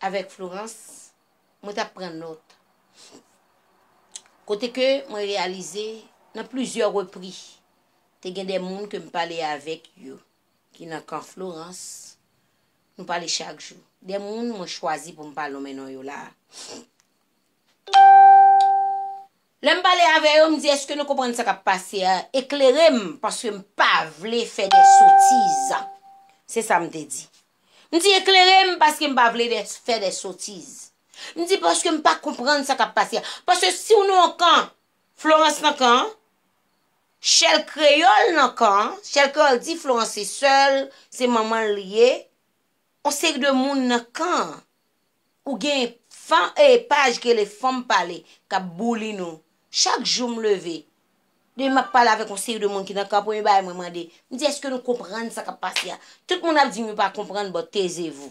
Avèk Florence, mwen t ap pran nòt. Kote ke mwen reyalize, nan plizyè repri, te gen de moun ke m pale avèk yo, ki nan kan Florence, nou pale chak jou. De moun mwen chwazi pou m pa lonmen non yo la a. Lè m pale avè yo, m di èske nou konprann sa k ap pase a, eklere m paske m pa vle fè de sotiz. Se sa m te di. M di eklere m paske m pa vle de fè de sotiz. M di paske m pa konprann sa k ap pase a. Paske si w nan yon kan, Florans nan kan an, Chèl Kreyòl nan kan an, Chèl Kreyòl di Florans se sè l, se manman l li ye, On seri de moun nan kan an. Ou gen fan e paj ki rele fanm pale k ap bouli nou. Chak jou m leve, depi m ap pale avèk on seri de moun ki nan kan an premye bagay mwen mande, m di èske nou konprann sa k ap pase a? Tout moun ap di m yo pa konprann but taisez vous.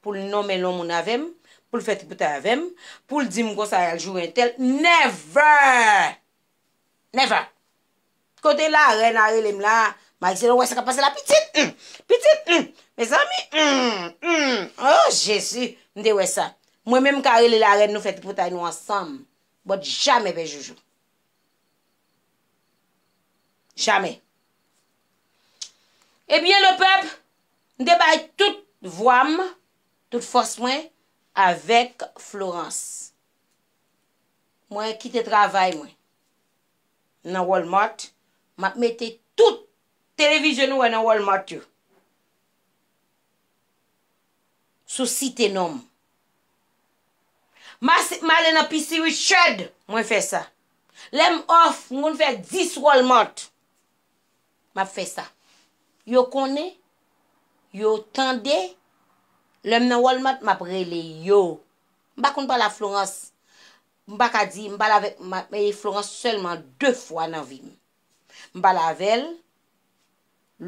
pou l nonmen lon moun avè m, pou l fè tripotay avè m, pou l di m konsa y al joure entèl, never! Never! Kote larèn a rele m la, Marisela ou wè sa k ap pase la pitit? Hum! Pitit? Hum! Mezanmi! Hum! Hum! Oh Jezi! M te wè sa. Mwen menm m ka rele larèn nou fè tripotay nou ansanm, but jamè pè Joujou. Jamè. Ebyen lepèp, M te bay tout vwa m, tout fòs mwen avèk Florence. Mwen kite travay mwen nan Walmart, m ap mete tout televizyon nou wè nan Walmart yo sou site non m. M ale nan Pisi Richard, mwen fè sa. Lè m off, m konn fè 10 Walmart. m ap fè sa. Yo konnen, yo tande, lè m nan Walmart m ap rele yo. M pa konn pale a Florans, m pa ka di, m pale avèk Florans sèlman 2 fwa nan vi m. M pale avè l,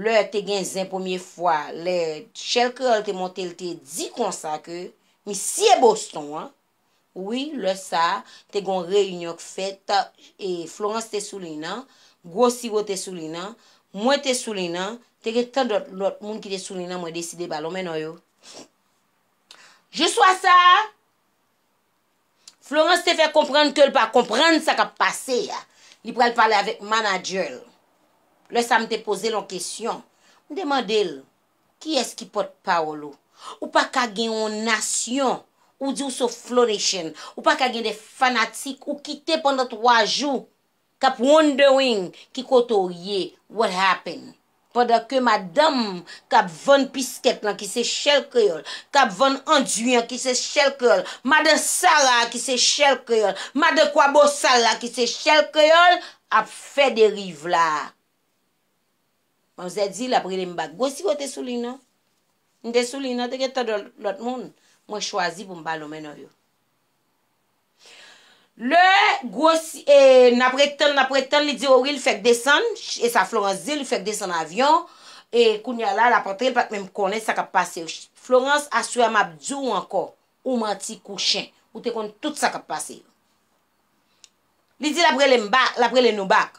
lè te gen zen premye fwa, lè Shell Creole te monte l te di konsa ke misye Boston an, Wi, lè sa a, te gen yon reyinyon k fèt, e Florence te sou liy nan, gwo siwo te sou liy nan, mwen te sou liy nan, te gen tandòt lòt moun ki te sou liy nan mwen deside pa lonmen non yo. Jou swa sa a, Florence te fè konprann ke l pa konprann sa k ap pase a. Li pral pale avèk manadjè l. Lè sa a m te poze l yon kesyon. M te mande l, Kiyès ki pòt pawòl ou? Ou pa ka gen yon nasyon ou di ou se Flo Nation, ou pa ka gen de fanatik ou kite pandan 3 jou k ap wondering ki kote w ye, what happen? Pandan ke madanm k ap vann piskèt lan ki se Shell Kreyòl, k ap vann anduy an ki se Shell Kreyòl, madan Sara a ki se Shell Kreyòl, madan Kwabosal la ki se Shell Kreyòl ap fè deriv la. Manzè di lap rele m bak. Gwosye yo te sou liy nan. M te sou liy nan, te gen tant de lòt moun. Mwen chwazi pou m pa lonmen non yo. Lè gwosye, e nap ret tann, nap ret tann, li di o wi li fèk desann, e sa Florans di l, li fèk desann avyon, e kounye a la lap antre, li pat menm konnen sa kap pase yo. Florans, aswè a map di w ankò, ou manti kou chen. Ou te konn tout sa kap pase yo. Li di lap rele m bak, lap rele nou bak.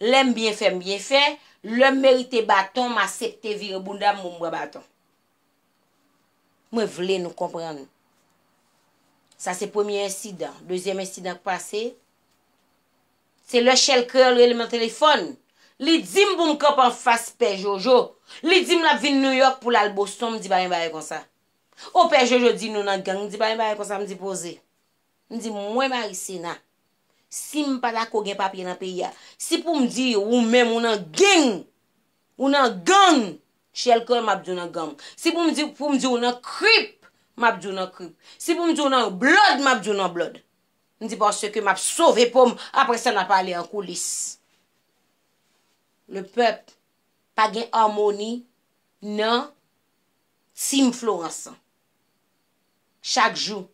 Lè m byen fè m byen fè, lè m merite baton m asepte vire bounda m pou m pran baton. Mwen vle nou konprann. Sa se premye ensidan. Dezyèm ensidan k pase, se lè Shell Creole rele m nan telefòn, li di m pou m kanpe anfas Pè Jojo, li di m l ap vin Nouyòk pou l al Boston, m di pa gen bagay konsa. O Pè Jojo di nou nan gang, m di pa gen bagay konsa, m di poze. M di mwen Maricena, si m pa dako gen papye nan peyi a, si pou m di ou menm ou nan geng, ou nan gang, Shell Creole m ap di w nan gang, si pou m di ou nan Crip, m ap di w nan Crip, si pou m di ou nan Blood, m ap di w nan Blood. M di paske m ap sove po m, apre sa n ap ale an koulis. Le pèp pa gen amoni nan Team Florence an. Chak jou,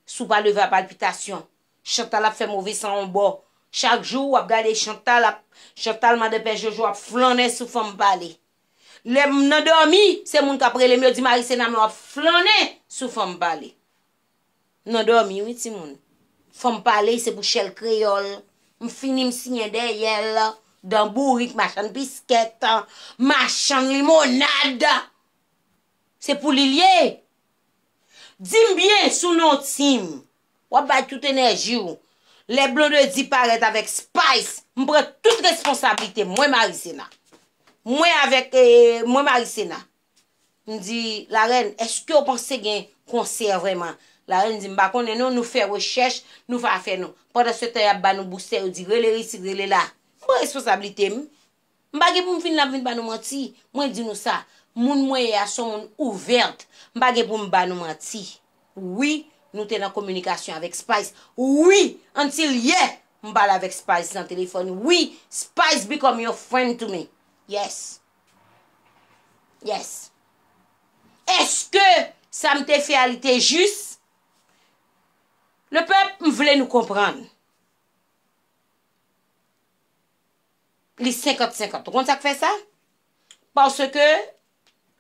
si w pa leve a palpitasyon, Chantal ap fè move san on bò. Chak jou, w ap gade Chantal ap, Chantal madan Pè Jojo ap flannen sou fanm pale. Lè m nan dòmi, se moun k ap rele m, yo di Marisena men w ap flannen sou fanm pale. Nan dòmi wi timoun. Fanm pale se pou chèl kreyòl. M fini m siyen dèyè l. Dan bourik, machann biskèt, machann limonad. Se pou li l ye? Di m byen sou non Tim. W ap bay tout enèji w. Lè Blondedy parèt avèk Spice, m pran tout responsablite m, mwen Marisena. Mwen avèk, mwen Marisena. M di, Larèn, èske w panse gen konsè vrèman? Larèn di, m pa konnen non, nou fè rechèch, nou fè afè nou. Pandansetan y ap ba nou boustè, yo di rele isit, rele la. M pran responsablite m. M pa gen pou m vin la pou m vin ba nou manti. Mwen di nou sa, moun mwen ye a se yon moun ouvert. M pa gen pou m ba nou manti. Wi, nou te nan kominikasyon avèk Spice. Wi, until yè, m pale avèk Spice nan telefòn. Wi, Spice become your friend to me. Yes. Yes. Eske sa m te fè a li te jis? Le pèp, m vle nou konprann. li senkant senkant. Ou konn sa k fè sa? Paske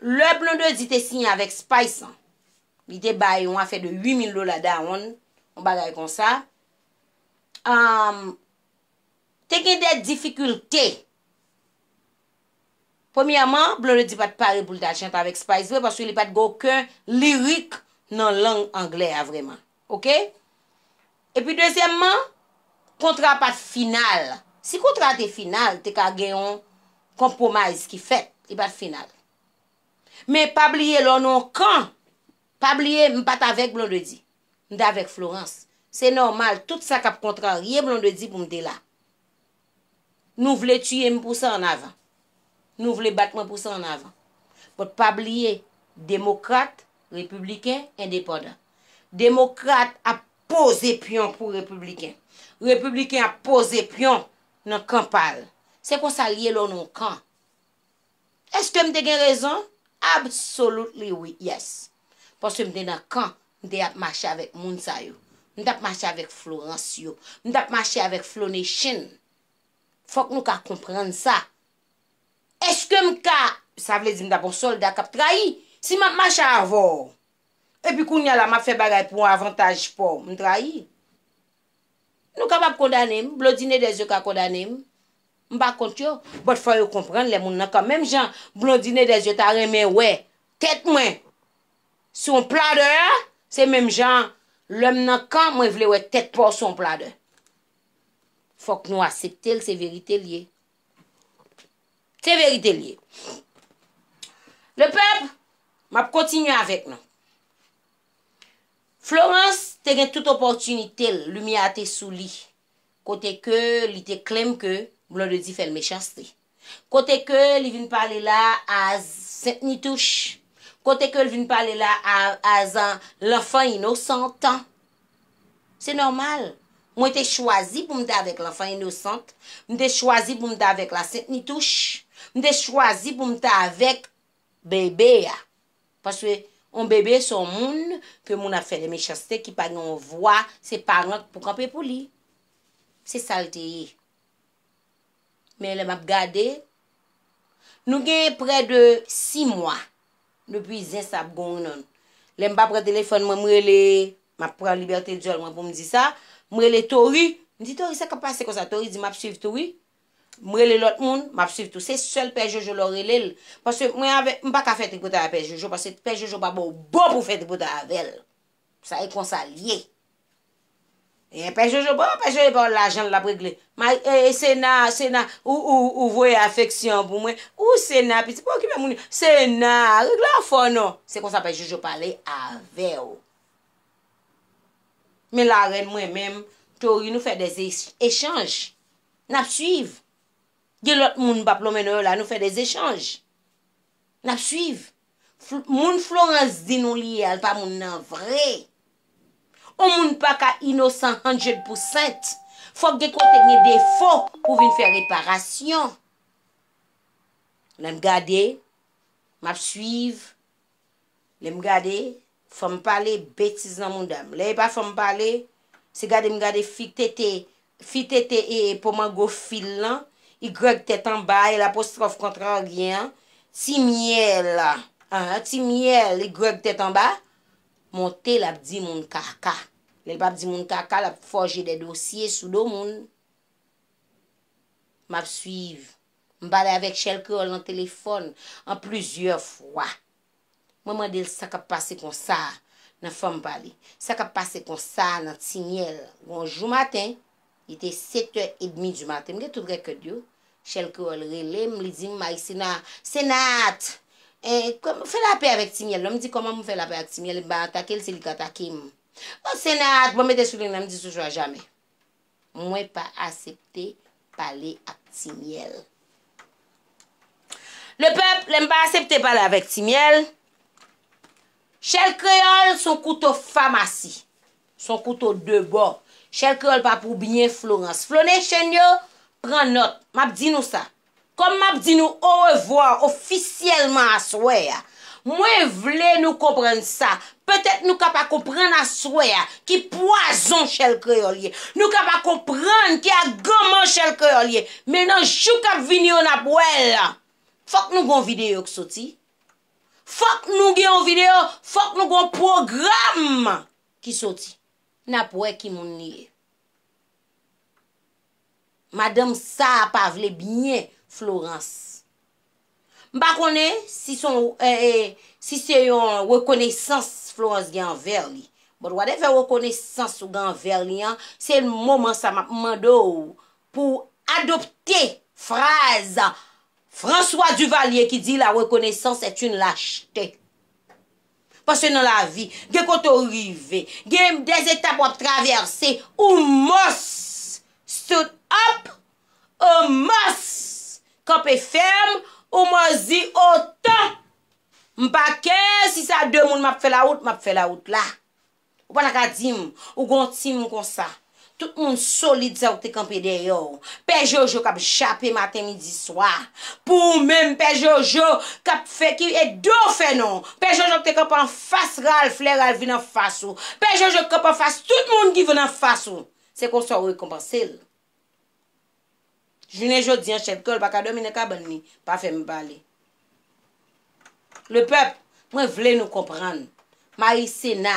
lè Blondedy te siyen avèk Spice lan, li te bay yon afè de 8000 dola dawonn, yon bagay konsa, te gen de difikilte. Premyèman, Blondedy pa t pare pou l t al chante avèk Spice vre paske li pa t gen oken lirik nan lang anglè a vrèman. Ok? Epi dezyèmman, kontra pa t final. Si kontra a te final, te ka gen yon konpwomize ki fèt. Li pa t final. Men pa bliye lè w nan yon kan, pa bliye m pa t avèk Blondedy. M te avèk Florence. Se nòmal tout sa k ap kontrarye Blondedy pou m te la. Nou vle tiye m pou sa an avan. Nou vle bat mwen pou sa an avan. But pa bliye, demokrat, repibliken, endepandan. Demokrat ap poze pyon pou repibliken. Repibliken ap poze pyon nan kan pa l. Se konsa l ye lè w nan yon kan. Eske m te gen rezon? Absolutely wi, yes. Paske m te nan kan, m te ap mache avèk moun sa yo. M t ap mache avèk Florence yo. M t ap mache avèk Flonation. Fòk nou ka konprann sa. Eske m ka, sa vle di m t ap yon solda k ap trayi. Si m ap mache avè w, epi kounya la m ap fè bagay pou avantaj pa w, m trayi? Nou kapab kondane m, Blondine Edez yo ka kondane m, m pa kont yo, but fò yo konprann lè moun nan kan menm jan Blondine Edez yo ta renmen wè tèt mwen sou yon pladè a, se menm jan lè m nan kan mwen vle wè tèt pa w sou yon pladè. Fòk nou asepte l se verite l ye. Se verite l ye. Le pèp, m ap kontinye avèk nou. Florence te gen tout opòtinite l, limyè a te sou li. Kote ke li te claim ke Blondedy fè l mechanste. Kote ke li vin pale la a as Saint Nitouche. Kote ke l vin pale la a as l'enfant innocente. Se nòmal. Mwen te chwazi pou m ta avèk l'enfant innocente. M te chwazi pou m ta avèk la Saint Nitouche. M te chwazi pou m ta avèk bebe a paske yon bebe se yon moun ke moun ap fè de mechanste ki pa gen yon vwa se paran k pou kanpe pou li se sal te ye men lè map gade nou gen prè de 6 mwa depi zen sa ap gonri nan nou lèm pa pran telefòn mwen m rele map pran libète dyòl mwen poum di sa m rele Tory m di Tory sa kap pase konsa Tory di map swiv tou wi M rele lot moun map swiv tou se sel pè jojo lè w rele l paske mwen avek m paka fè tripotay a pè jojo paske pè jojo pa baw bon pou fè tripotay avèl sa e konsa l ye e pè jojo bon pè jojo pa w lajan l lap regle e sena sena ou voye afeksyon pou mwen ou sena piti pa okipe moun yo sena regle afè w non se konsa pè jojo pale avèw men la rèn mwen menm tori nou fè de echanj. Nap swiv. Gen lòt moun m pa plonmen non yo la, nou fè des echanj. Nap swiv. Moun Florence di nou li ye a, l pa moun nan vre. On moun pa ka inosan hundred percent. Fòk gen kote gen defo pou vin fè reparasyon. Lè m gade, map swiv, Lem gade fanm pale betiz nan moudam lè epa fanm pale se gade m gade fi tete fi tete e po mango fil lan y tèt anba e lapostròf kontraryen an ti myèl anh ti myèl y tèt anba monte lap di moun kaka lèl pap di moun kaka lap fòje dè dosye sou do moun map swiv M pale avèk Shell Creole nan telefòn an plizyè fwa. Mwen mande l sa k ap pase konsa a nan fèm pa li, sa k ap pase konsa a nan Timyè l. Yon jou maten, li te sektè edmi di maten, m gen tout rèkèd yo, Shell Creole rele m, li di m, Maïcena, se Naat! Fè lapè avèk Timyè l non! M di, Kòman pou m fè lapè ak Timyè l? M pa atake l, se li k atake m. O, se Naat! Bon, mete sou lin nan, m di, Sou swa jamè. Mwen pa asepte pale ak ti myèl. Le pèp, lè m pa asepte pale avèk ti myèl, chèl kreyòl s on kouto famasi, s on kouto de bò, chèl kreyòl pa pou byen Florans. Flonèchen yo, pran nòt, m ap di nou sa, Kòm m ap di nou orevwa ofisyèlman aswè a, mwen vle nou konprann sa, petèt nou ka pa konprann aswè a ki pwazon chèl kreyòl ye, nou ka pa konprann ki aganman chèl kreyòl ye, men nan jou k ap vini yo n ap wè l. Fòk nou gen yon videyo k soti. Fòk nou gen yon videyo, fòk nou gen yon pwogram ki soti. N ap wè ki moun li ye. Madanm saa pa vle byen Florence. M pa konnen si son si se yon rekonesans Florence gen anvè li. But whatever rekonesans ou gen anvè li an, se l moman sa m ap mande w pou w adopte fraz François Duvalier ki di la reconnaissance est une lâcheté. Paske nan lavi, gen kote w rive, gen des etap w ap travèse, ou must stood up, ou must kanpe fèm, ou must di otan! M pa kè si sa de moun m ap fè lawout, m ap fè lawout la. Ou pa ta ka di m, ou gen yon team konsa. Tout moun solid sa yo ki te kanpe dèyè w. Pè Jojo k ap jape maten, midi, swa. Pou ou menm Pè Jojo k ap fè ki e do w fè non. Pè Jojo ki te kanpe anfas Ralph lè Ralph vin anfas ou. Pè Jojo ki kanpe anfas tout moun ki vin anfas ou. Se konsa ou rekonpanse l. Jounen jodi an chèf gòl pa ka dòmi nan kabann li, pa fè m pale. Lepèp, mwen vle nou konprann. Mayi Sena,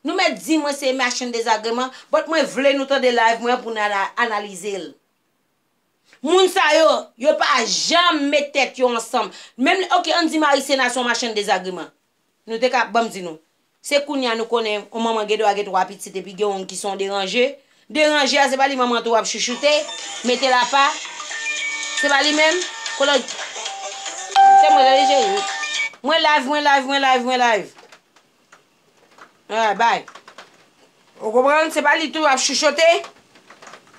nou mèt di mwen se machann dezagreman, bòt mwen vle nou tande live mwen an pou nou analize l. Moun sa yo, yo pa janm met tèt yo ansanm. Menm, ok, an n di Mayi Sena se yon machann dezagreman. Nou te ka, banm di nou. Se kounya nou konnen on manman gen dwa gen 3 pitit epi gen on ki son deranje. Deranje a se pa li manman tou ap chouchoute, mete l apa. Se pa li menm. Kolòj. Se mwen tande cheri. Mwen live, mwen live, mwen live, mwen live. Ahh bay. Ou konprann se pa li tou ap chouchote?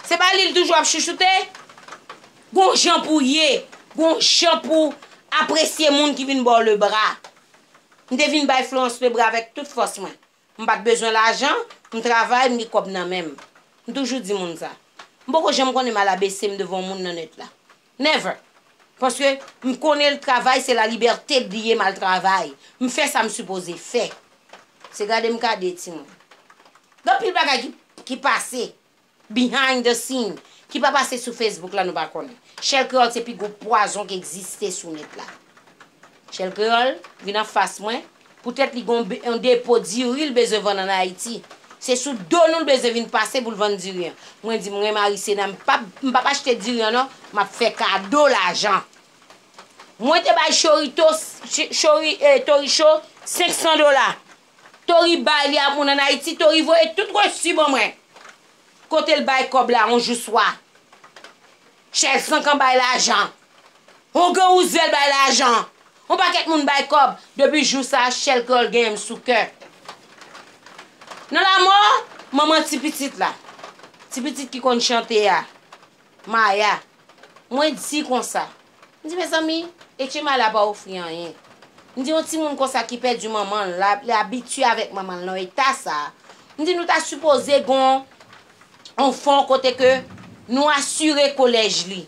Se pa li li toujou ap chouchoute? Gon jan pou ye, gon jan pou apresye moun ki vin ba w le bra. M te vin bay Florence le bra avèk tout fòs mwen. M pa t bezwen lajan, m travay, m gen kòb nan men m. M toujou di moun sa. M poko janm konnen m al abese m devan yon moun nan nèt la. Never! Paske m konnen l travay se la liberte l ye m al travay. M fè sa m sipoze fè. Se gade m gade timoun. Gen anpil bagay ki ki pase behind the scene ki pa pase sou Facebook la nou pa konnen. Shell Creole se pi gwo pwazon ki egziste sou nèt la. Chèl Kreyòl, vin an fas mwen, poutèt li gen yon depo diri l bezwen vann ann Ayiti. Se sou do nou l bezwen vin pase pou l vann diri an. Mwen di m renmen Arisena, m pa m pa p achte diri an non, m ap fè kado lajan. Mwen te bay Chorito, Chori, Tori Cho, 500 dola. Tori bay li a moun ann Ayiti, Tori voye tout resu ban mwen. Kote l bay kòb la yon jou swa. Chèz kankan bay lajan. On gen ou zèl bay lajan. On pakèt moun bay kòb. Depi jou sa a Shell Kreyòl genyen m sou kè. Nan lamò manman ti pitit la, ti pitit ki konn chante a, Maya, mwen di konsa, m di mezanmi, Etchema la pa ofri anyen. M di on timoun konsa ki pèdi manman l, li abitye avèk manman l nan eta sa a, m di nou ta sipoze gen on. on fon kote ke nou asire kolèj li.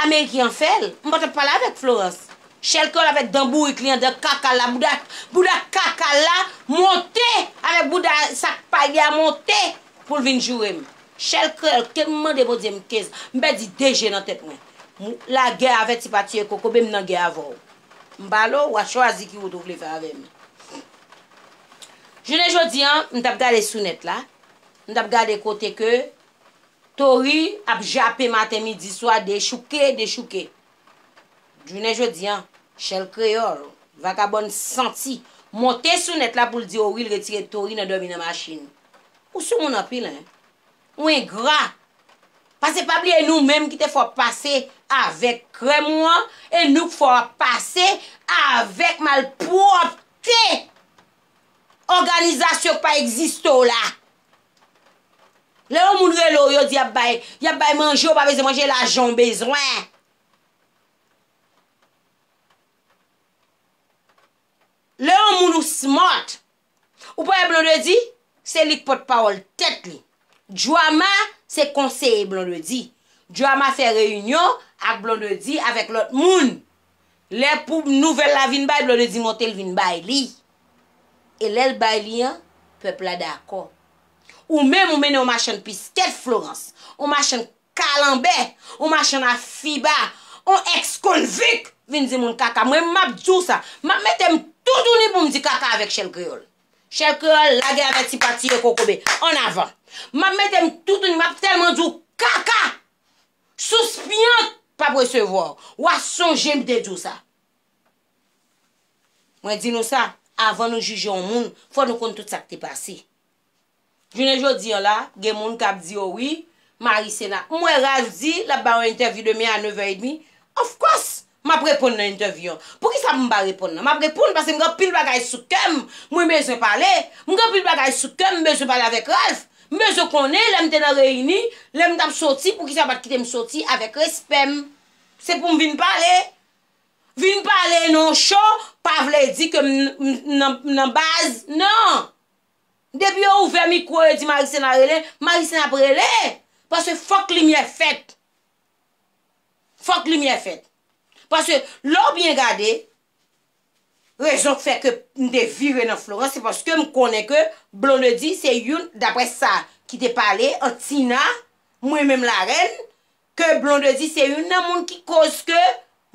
Ameriken an fè l, m pa t ap pale avèk Florence. Shell Creole avèk dan bourik li an, dan kaka l la, bouda, bouda kaka l la monte avèk bouda sak pay li a monte pou l vin joure m. Shell Creole ke m mande Bondye m ke m pèdi de je nan tèt mwen. M lagè avè ti pa tiye kokobe m nan gè avè w. M pale w, w a chwazi ki wout ou vle fè avè m. Jounen jodi an, m t ap gade sou nèt la, m t ap gade kote ke Tory ap jape maten, midi, swa, dechouke, dechouke. Jounen jodi an, Shell Kreyòl, vakabòn santi, monte sou nèt la pou l di Ory l retire Tory nan dòmi nan machin. Ou soumoun anpil, hein! Ou engra. Pase pa bliye nou menm ki te fè w pase avèk krèm ou an e nou k fè w ap pase avèk malpwòpte òganizasyon k pa egziste w la. Lè yon moun rele w yo di y ap bay, y ap bay manje ou pa bezwen manje lajan w bezwen. Lè yon moun ou smart. Ou pa wè Blondedy se li k pòt pawòl tèt li. Joama se konseye Blondedy. Joama fè reyinyon ak Blondedy avèk lòt moun. Lè pou nouvèl la vin bay Blondedy monte l vin bay li. E lè l bay li an, pèp la dakò. Ou menm ou mennen yon machann piskèt Florence, yon machann Kalanbè! On machann a fiba! On ex konvik! Vin di moun kaka! Mwen map di w sa! Map mete m toutouni pou m di kaka avèk Shell Creole! Shell Creole, lage avè ti pati yo kokobe! An avan! Map mete m toutouni, map tèlman di w kaka! Souspyant pap resevwa w! Wa sonje m te di w sa! Mwen di nou sa, avan nou jije on moun, fò nou konn tout sa k te pase. Jounen jodi an la, gen moun k ap di yo wi, mari sena. M wè Ralph di l ap ba yon entèvyou demen a nevè edmi. Of course! M ap reponn nan entèvyou an. Poukisa pou m pa reponn nan? M ap reponn paske m gen anpil bagay sou kè m, mwen bezwen pale. M gen anpil bagay sou kè m, m bezwen pale avèk Ralph. M bezwen konnen lè m te nan reyini, lè m t ap soti, poukisa yo pa t kite m soti avèk respè m. Se pou m vin pale. Vin pale nan yon show pa vle di ke m nan baz, nan! Depi yo ouvè mikwo yo di Marisena rele, Marisena ap rele! Paske fòk limyè fèt. Fòk limyè fèt. Paske lè w byen gade, rezon k fè ke m te vire nan Florans se paske m konnen ke Blondedy se youn, daprè sa ki te pale ant Tina, mwen menm Larèn, ke Blondedy se youn nan moun ki koz ke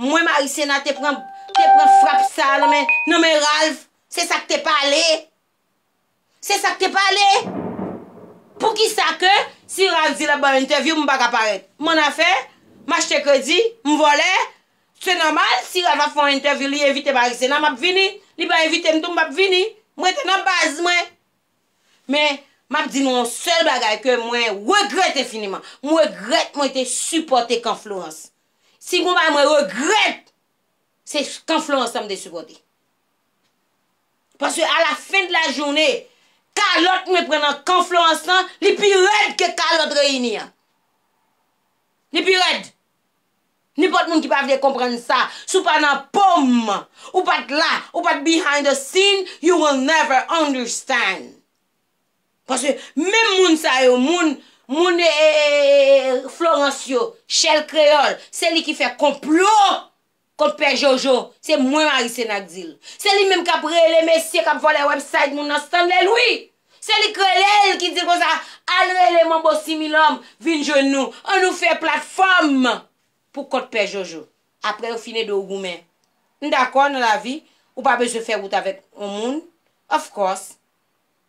mwen Marisena te pran frap sa nan men Ralph. Se sa k te pale. Se sak te pale! Poukisa ke si Ralph di lap banm entèvyou m paka parèt? M an afè? M achte kredi? M vòlè? Se nòmal si Ralph ap fè yon entèvyou li envite Marie Sena map vini, li pa envite m tou m pap vini. M rete nan baz mwen. Men, map di nou yon sèl bagay ke mwen regrèt enfiniman. M regrèt mwen te sipòte kan Florence. Si gon bagay mwen regrèt, se kan Florence la m te sipòte. Paske a la fin de la journée, kalòt mwen pran nan kan Florence lan, li pi rèd ke kalòt Reyini an. Li pi rèd. Nenpòt moun ki pa vle konprann sa, si w pa nan po m, ou pa t la, ou pa t behind the scene, you will never understand. Paske menm moun sa yo, moun, moun e, e, e, e, e, e, e, Florence yo, Shell Creole, se li ki fè konplo Kot pè jojo, se mwen mari senak dil. Se li menm kap rele mesye kap vòlè website moun nan stanley wi. Se li k relel ki dil konsa al rele manbo similom vin jwenn nou an nou fè platfòm pou kont pè jojo. Aprè yo fin ede w goumen. M dakò nan lavi ou pa bezwen fè wout avèk on moun of course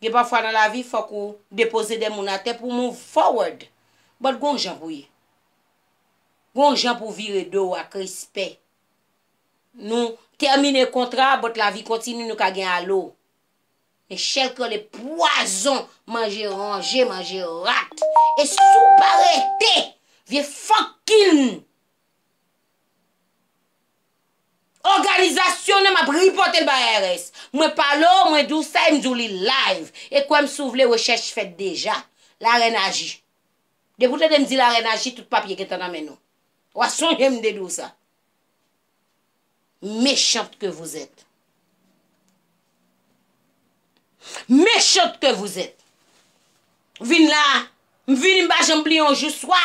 gen pafwa nan lavi fòk ou depoze de moun atè pou w move forward but gon jan pou ye. Gon jan pou vire do w ak respè. Nou tèmine kontra a but lavi kontini nou ka gen alo. Men chèl k rele pwazon manje ranje manje rat. E si w pa rete vye fokkin òganizasyon nan m ap ripote l bay IRS. Mwen pale w mwen di w sa e m di w li live. E kwè m si w vle rechèch fèt deja. Larèn aji. Depi ou tande m di larèn aji tout papye gentan nan men nou. Wa sonje m te di w sa. Méchante que vous êtes. Méchante que vous êtes. Vin la, m vini m pa janm bliye yon jou swa.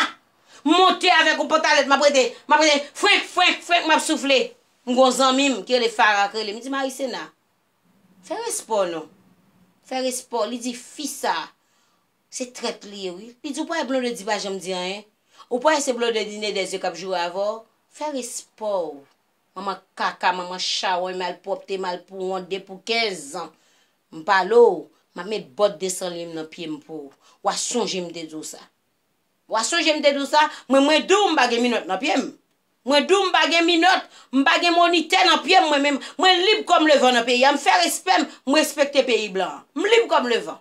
M monte avèk yon pantalèt m ap rete, m ap rete frenk, frenk, frenk m ap soufle. M gen yon zanmi m ki rele Fara ki rele m, li di Marisena, fè respè w non. Fè respè w. Li di fi sa, Se trèt li ye wi. Li di w pa wè Blondedy pa janm di anyen? Ou pa wè se Blondedy ne dè zye kap joure avè w? Fè respè w. Manman kaka, manman chawony, malpwòpte, malpouwont, de pou 15 zan. M pale w, map met bòt 200 liy m nan pye m pou w. Wa sonje m te di w sa. Wa sonje m te di w sa? Mwen mwen di w m pa gen minòt nan pye m. Mwen di w m pa gen minòt, m pa gen monitè nan pye m mwen menm. Mwen lib kòm levan nan peyi a. M fè respè m, m respekte peyi blan an. M lib kòm levan.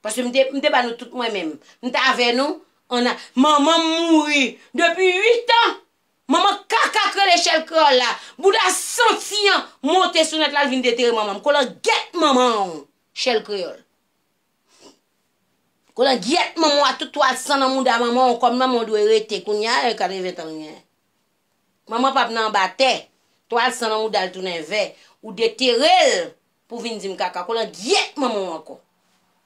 Paske m te, m te ba nou tout mwen menm. M t avè nou, an a. Manman m mouri depi uit an! Manman kaka k rele Chèl Kreyòl la, bouda santi an, monte sou nèt l al vin detere manman m. Kolangyèt manman w, Chèl Kreyòl. Kolangyèt manman w ak tout twal san nan mouda manman w, kòm manman w dwe rete kounye a, e katreven tan l genyen. Manman pap nan anba tè, twal san nan mouda l tounen vè, ou detere l Pou vin dim kaka kolan gyèt manman w ankò.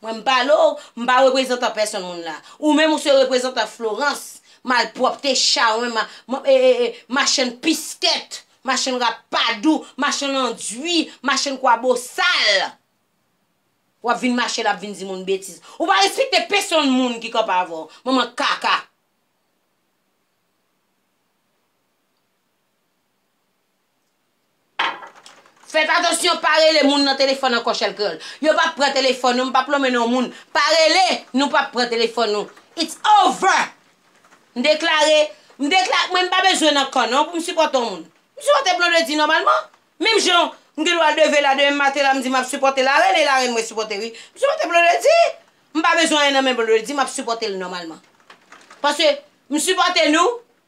Mwen m pale w, m pa reprezantan pèsonn moun la. Ou menm ou se reprezantan Florence, malpwòpte, chawony, machann piskèt, machann rapadou, machann andwi, machann kwa bosal. W ap vin mache la ap vin di moun betiz. Ou pa respekte pesonn moun ki kanpe avè w. Manman kaka. Fèt atansyon pa rele moun nan telefòn ankò chelkrl yo pap pran telefòn nou m pap lonmen non moun pa rele nou pap pran telefòn nou it's over m deklare m deklare mwen m pa bezwen nan kan non pou m sipòte on moun m sipòte blondedy nòmalman menm jan m gen dwa leve la demen maten la m di map sipòte la rèn e la rèn mwen sipòte wi m sipòte blondedy m pa bezwen anyen nan men blondedy map sipòte l nòmalman paske m sipòte nou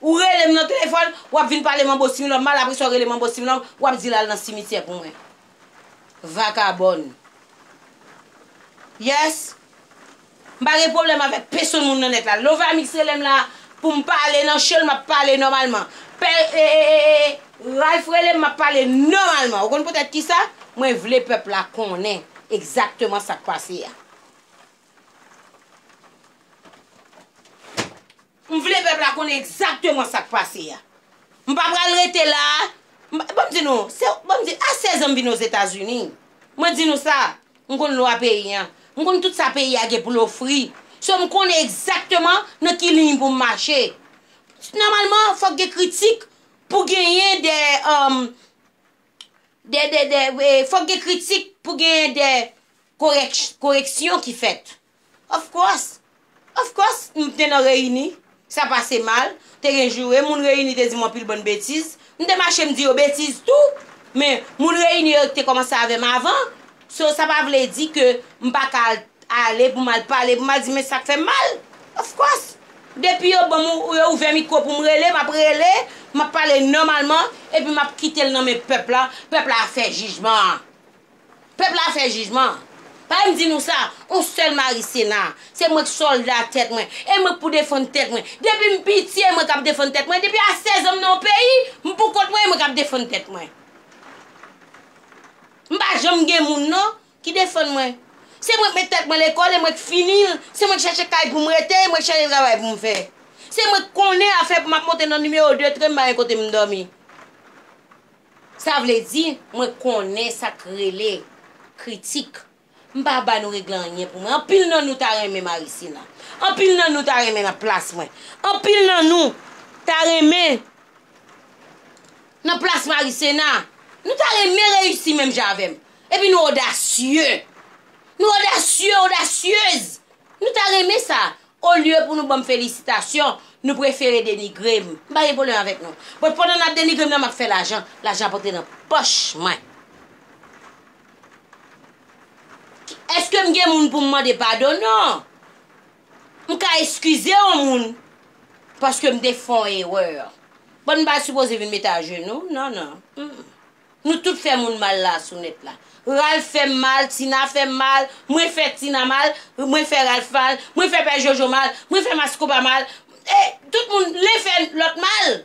Ou rele m nan telefòn, w ap vin pale manbo Similòm mal, apresa w rele manbo Similòm, w ap di l al nan simityè pou mwen. Vakabòn. Yes. M pa gen pwoblèm avèk pesonn moun nan nèt la. Lovamix rele m la pou m pale nan cho l, m ap pale nòmalman. Pè, e, e, e, e, e, Ralph rele m, m ap pale nòmalman. Ou konn poutèt kisa? Mwen vle pèp la konnen egzakteman sa k pase a. M vle pèp la konnen egzakteman sa k pase a. M pa pral rete la a. Ban m di nou, se ban m di, a 16 an m vin Ozetazini. Mwen di nou sa, m konn lwa peyi an. M konn tout sa peyi a gen pou l ofri. So m konnen egzakteman nan ki liy pou m mache. Nòmalman, fòk gen kritik pou genyen de, de, de, de, fòk gen kritik pou genyen de, koreksyon ki fèt. Of course! Of course! M te nan reyini, sa pase mal, te gen joure, moun reyini te di m anpil bann betiz, m te mache m di yo betiz tou, men moun reyini yo te kòmanse avè m avan, so sa pa vle di ke m pa ka ale pou m al pale, pou m al di men sa k fè m mal! Of course! Depi yo ban m, yo ouvè mikwo pou m rele, m ap rele, m ap pale nòmalman, epi m ap kite l nan men pèp la, pèp la ap fè jijman an. Pèp la fè jijman. Pale m di nou sa, on sèl Mari Sena. Se mwen k sòlda tèt mwen. E mwen k pou defann tèt mwen. Depi m piti e mwen k ap defann tèt mwen. Depi a 16 an m nan yon peyi, m pou kont mwen e mwen k ap defann tèt mwen. M pa janm gen moun non, ki defann mwen. Se mwen k met tèt mwen lekòl e mwen k fini l. Se mwen k chache kay pou m rete e mwen k chache travay pou m fè. Se mwen k konnen afè pou m ap monte nan nimewo 2 tren m pa gen kote m dòmi. Sa vle di, mwen konnen sa k rele kritik. M pa ap ba nou regle anyen pou mwen. Anpil nan nou ta renmen Marisina. Anpil nan nou ta renmen nan plas mwen. Anpil nan nou ta renmen nan plas Marisena. Nou ta renmen reyisi menm jan avè m. Epi nou odasye. Nou odasye, odasyez. Nou ta renmen sa. Olye pou nou banm felisitasyon, nou prefere denigre m. M pa gen pwoblèm avèk nou. Bon, pandan n ap denigre m nan, m ap fè lajan. Lajan ap antre nan pòch mwen. Èske m gen moun pou m mande padon? Non. M ka eskize yon moun paske m te fè yon erè. Bon, m pa sipoze vin mete ajenou. Non, non. Nou tout fè moun mal la sou nèt la. Ralph fè m mal, Tina fè m mal, mwen fè Tina mal, mwen fè Ralph mal, mwen fè Pè Jojo mal, mwen fè Maskoba mal, e tout moun len fè lòt mal.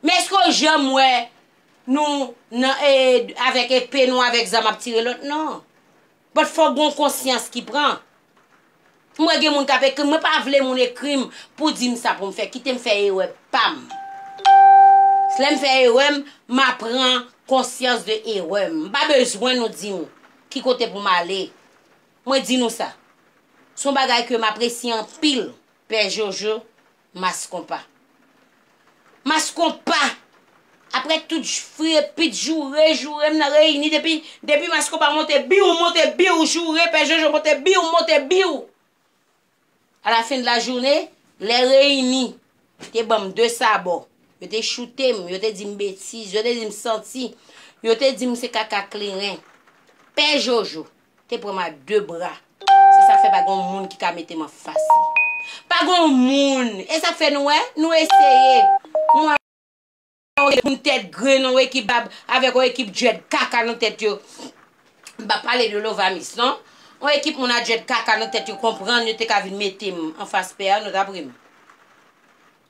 Men èske w janm wè nou nan e avèk epe nou avèk zam ap tire lòt? Non. But fòk gon konsyans ki pran. M wè gen moun kap ekrim mwen pa vle moun ekrim pou dim sa poum fè kitem fè erè pam s lèm fè erèm ma pran konsyans de erèm m pa bezwen nou dim ki kote poum ale mwen di nou sa son bagay kem apresye anpil pè jojo Mass konpa. Mass konpa! Aprè tout jfrepit joure joure m nan reyini depi depi mass konpa monte biw monte biw joure pè jojo monte biw monte biw a la fin de la joune lè reyini te banm de sabò yo te choute m yo te di m betiz yo te di m santi yo te di m se kaka kleren pè jojo te pran m a de bra. Se sa k fè pa gen yon moun ki ka mete m an fas li. Pa gen yon moun! E sa k fè nou wè, nou eseye, mwen ak yon ekip moun tèt grenn, yon ekip bab avèk yon ekip djwed kaka nan tèt yo, m pa pale de Lovamis non, yon ekip moun a djwed kaka nan tèt yo konprann yo te ka vin mete m an fas pè a, nou t ap ri m.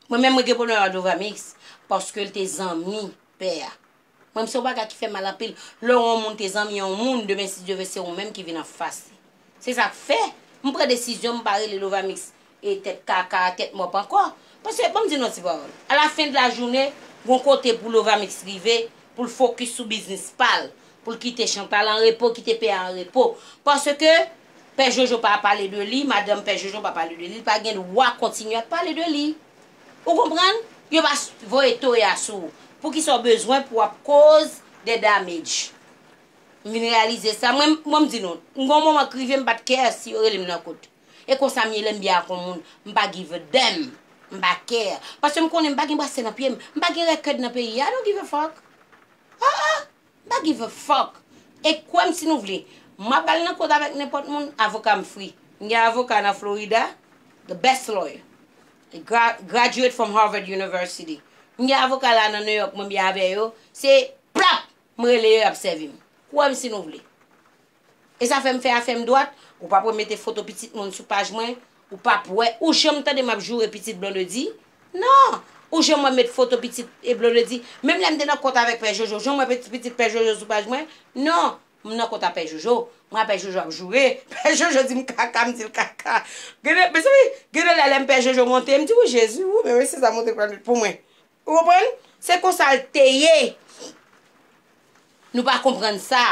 Mwen menm mwen gen pwoblèm ak Lovamis paske l te zanmi pè a. Mwen menm se yon bagay ki fèm mal anpil, lè yon moun te zanmi yon moun demen si Dye ve se ou menm ki vin anfas li. Se sak fè m pran desizyon m pa rele Lovamix e tèt kaka, tèt mòp ankò. Paske banm di nou yon ti pawòl, a la fen de la jounen gon kote pou Lovamix rive pou l fokis sou biznis pa l, pou l kite Chantal an repo, kite pè a an repo. Paske pè Jojo pa pale de li, madanm pè Jojo pa pale de li, li pa gen dwa kontinye ap pale de li. Ou konprann? Yo va voye toye a sou ou. Poukisa ou bezwen pou ap koz de damage? M vin reyalize sa. Mwen m di nou, m gen yon moman k rive m pa t care si yo rele m nan kot. E konsa m ye lè m byen ak yon moun. M pa give a damn. M pa care. Paske m konnen m pa gen brasle nan pye m. M pa gen rèkèd nan peyi a. I don't give a fuck. Ah ah. Mpa give a fuck e kwèm si nou vle map al nan kot avèk nenpòt moun avokam free mgen avoka nan Florida the best lawyer li graduate from Harvard University mgen avoka la nan New York mwen byen avè yo se plap mrele yo yap sèvim kwèm si nou vle. E sa fèm fè afèm dwat, ou pap wè mete foto pitit moun sou paj mwen, ou pap wè, ou janm tande map joure pitit Blondedy? Non! Ou janm wèm met foto pitit e Blondedy? Menm lèm te nan kont avèk pè Jojo, ou janm wè pitit pè Jojo sou paj mwen? Non! M nan kont a pè Jojo, m a pè Jojo ap joure, pè Jojo dim kaka, m dil kaka. Gen de, mezanmi, gen de lè lèm pè Jojo monte, m di ou Jezi, ou menm esi sa monte pran nwit pou mwen. Ou konprann? Se konsal te ye! Nou pa konprann sa!